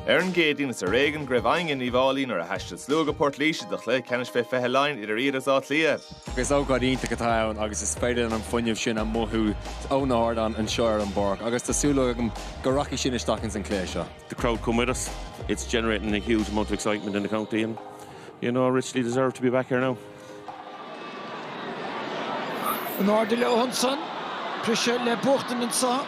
Ar an gCéadaoin is ar éigean go raibh éinne in Uíbh Fháilí nuair a thaistil slua go Port Laoise do chluiche ceannais fé 20 Laighean idir iad agus Áth Cliath. Is ócáid iontach atá ann agus is féidir linn an fuinneamh sin a mhothú ó na hardáin anseo ar an bpáirc agus tá súil agam go rachaidh sin isteach ins an chluiche seo. The crowd come with us. It's generating a huge amount of excitement in the county and you know, richly deserve to be back here now. In airde leo ansan. Briseadh le buachtaint anseo.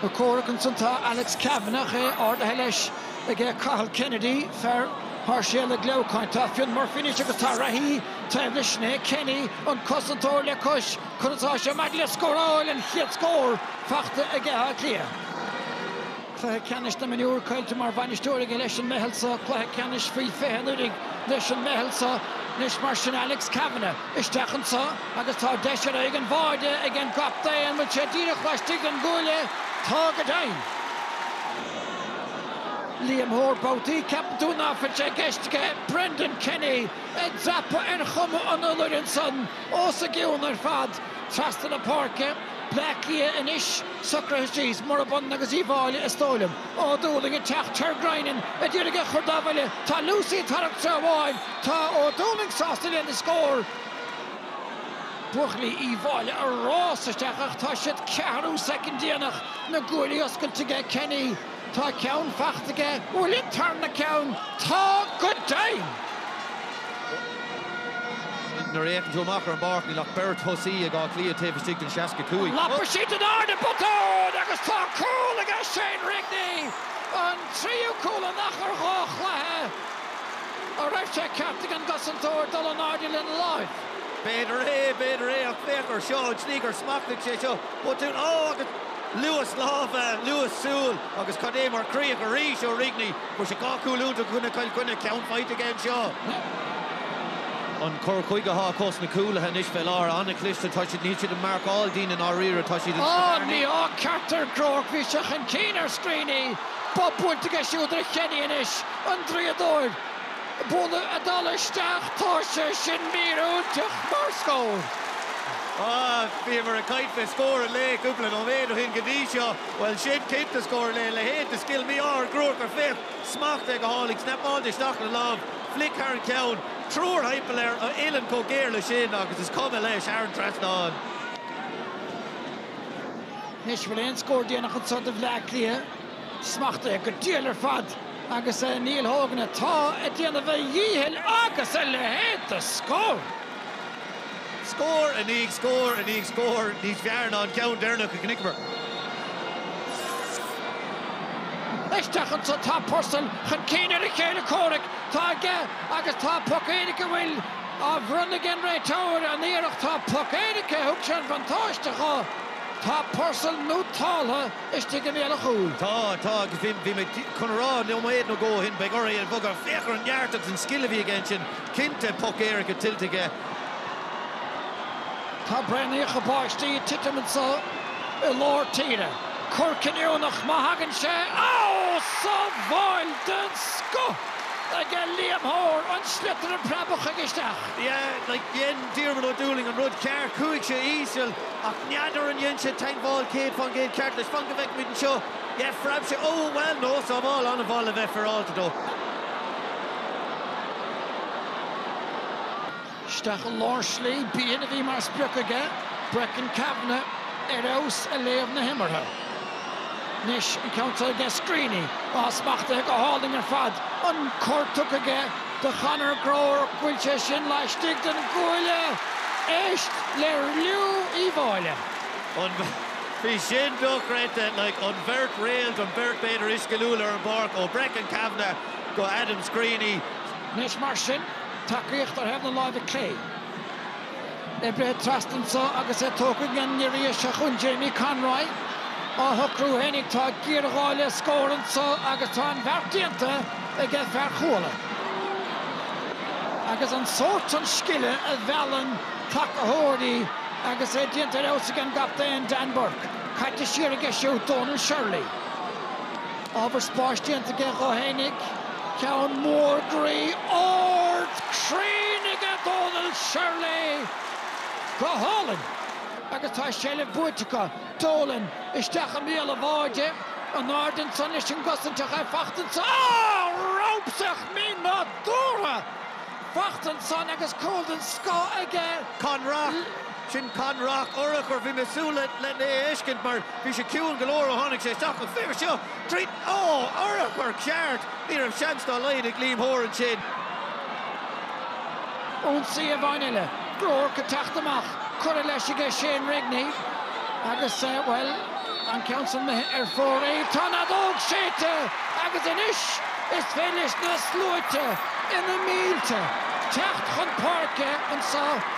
Ag comhrac ansan tá Alex Kavanagh, é ardaithe leis ag Cathal Kennedy, fear Sháirséalaigh Leamhcáin. Tá Fionn Murphy anois agus tá reathaí taobh leis, sin é Kenny, an cosantóir, le cois. Conas atá sé maidir le scóráil an chéad scór faighte ag Áth Cliath? Cluiche Ceannais na Mionúr caillte mar bhainisteoir aige leis an meitheal so, Cluiche Ceannais Faoi 20 anuraidh leis an meitheal so. Anois mar sin Alex Kavanagh isteach anseo agus tá deis ar aghaidh an bháide ag an gcaptaen an bhfuil sé díreach laistigh den gcuaille Tá go deimhin! Liam Hoare Babhtaí ceapann tú ná fuil sé i gceist aige Brendan Kenny ag dreapadh ar chuma an iolair ansan os a gcionn ar fad trasna na páirce, Bleá Cliath anois socraithe síos, murab ionann agus Uíbh Fháilí, is dóigh liom. Ó Dúlaing ag teacht, Ter Guinan ag iarraidh é a chur dá bhuille, tá Lucey ag tarraingt treo amháin, tá Ó Dúlaing sásta lena scór, buachaillí Uíbh Fháilí ag rás isteach ach tá siad ceathrú soicind déanach, na guaillí oscailte aige Kenny. Tá ceann faighte aige, an bhfuil an tarna ceann? Tá go deimhin! Nuair a fhéachann tú amach ar an bpáirc, níl ach beirt thosaí ag Áth Cliath taobh istigh den 65. Lapfaidh siad in airde, botún agus tá cúl aige Shane Rigney, an tríú cúl in achar dhá chluiche an raibh sé ceart ag an gcosantóir dul in airde lena láimh. B'fhéidir é, b'fhéidir é ach féach air seo, an tslí gur smachtaigh sé seo, botún. Ó agus. Luas láimhe, luas súl agus cad é mar chríoch arís ó Rigney. Fuair sé dhá chúl iontacha i gcoinne Chill Chainnigh ceann faighte aige anseo. An cur chuige atá acu sna cúlaithe anois fé láthair, an-chliste. Tá siad, níl siad ag marcáil daoine i ndáiríre, tá siad ag Á, smaoineamh ar ní. mí-ádh ceart ar Groarke. Bhí sé chun cinn ar Screeney. Bob buailte aige siúd ar Kenny anois, an draíodóir. Buille ag dul isteach tá sé sin míorúilteach mar scór. Bhíomar ag caint fé scór an lae cúpla nóiméad ó shin go dtí seo. Bhuel sin, cinnte, scór an lae, a leithéid de scil, mí-ádh ar Groarke ach féach, smacht aige go hálainn, snapáilte isteach le lámh, flick thar an ceann, triúr thimpeall air an uillinn chomh géar le sin agus is cuma leis, thar an trasnán. Anois bhfuil aon scór déanach anseo do Bhleá Cliath? smachtaithe go diail ar fad agus Neil Hogan atá ag déanamh a dhíchill agus a leithéid de scór! Scór i ndiaidh scóir i ndiaidh scóir, níos fearr ná an ceann deireanach a chonaiceamar. Isteach anso, tá Purcell chun cinn ar a chéile comhraic, tá aige agus tá poc éirice an bhfuil á bhronnadh ag an réiteoir, an iarracht, tá poc éirice, thug sé an buntáiste dhó, tá Purcell nótáltha. istigh i mbéal an chúil. Tá, tá agus bhí, bhí mé, chun a rá, nóiméad nó dhó ó shin, beidh ortha é a bhogadh. Féach ar an neart agus an scil a bhí aige ansin. Cinnte, poc éirice tuillte aige. Tá braonaíocha báistí ag titim anseo i lár tíre. Cor cinniúnach má thagann sé. Ó! Sábháil den scoth aige Liam Hoare, an sliotar ag preabadh chuige isteach. Yeah, like, dhein Diarmaid Ó Dúlaing an rud ceart. Chuaigh sé íseal. Ach n'fheadar an dhein sé teagmháil céad fán gcéad ceart leis. Fan go bhfeicfidh muid anseo. Yeah, phreab sé. Ó, bhuel, no, sábháil an-mhaith le bheith féaráilte dó. Isteach i lár slí, b'shin a bhí mar sprioc aige, Brecon Kavanagh ar fheabhas ag léamh na himeartha. Anois an ceann seo aige, Screeney, atá smachtaithe go hálainn ar fad. An cor tugtha aige do Conor Groarke, an bhfuil sé sin laistigh den gcuaille. Éist le liú Uíbh Fhailí. Á. Bhí sin dochreidte. Like, an bheirt réalt, an bheirt b'fhéidir is sciliúla ar an bpáirc, ó Brecon Kavanagh go Adam Screeney. Anois mar sin, tacaíocht ar thaobh na láimhe clé. Oibrithe trasna anseo agus é tógtha ag an ngiorria seo chugainn, Jamie Conroy. Á shocrú fhéinig. Tá géarghá le scór anseo agus tá an bheart déanta aige fear Chuala. Agus an sórt sin scile a mheallann tacaitheoirí agus é déanta ar fheabhas ag an gcaptaen Dan Bourke. Caite siar aige siúd Donal Shirley. Ábhar spáis déanta aige dhó fhéinig, ceann mór groí ard cruinn aige Dónal Shirley! Go hálainn! Agus tá seilbh buaite acu, Dolan isteach i mbéal an bháide, in airde ansan leis an gcosaint ach é fachta ansan, á! ramsach mínádúrtha! fachta ansan agus cúl den scoth aige! Conn Rock! Sin Conn Rock, urchar. Bhí mé súil le'n é a fheiscint mar bhí sé ciúin go leor ó tháinig sé isteach ach féach seo! Trí, ó! Urchar ceart! Ní raibh seans dá laghad ag Liam Hoare ansin. Ionsaí amháin eile. Groarke ag teacht amach. Curtha leis aige Shane Rigney agus, bhuel, an ceann san imithe ar fóraoil. Tá an fheadóg séidte agus anois is féidir leis na sluaite, ina mílte, teacht chun páirce anso.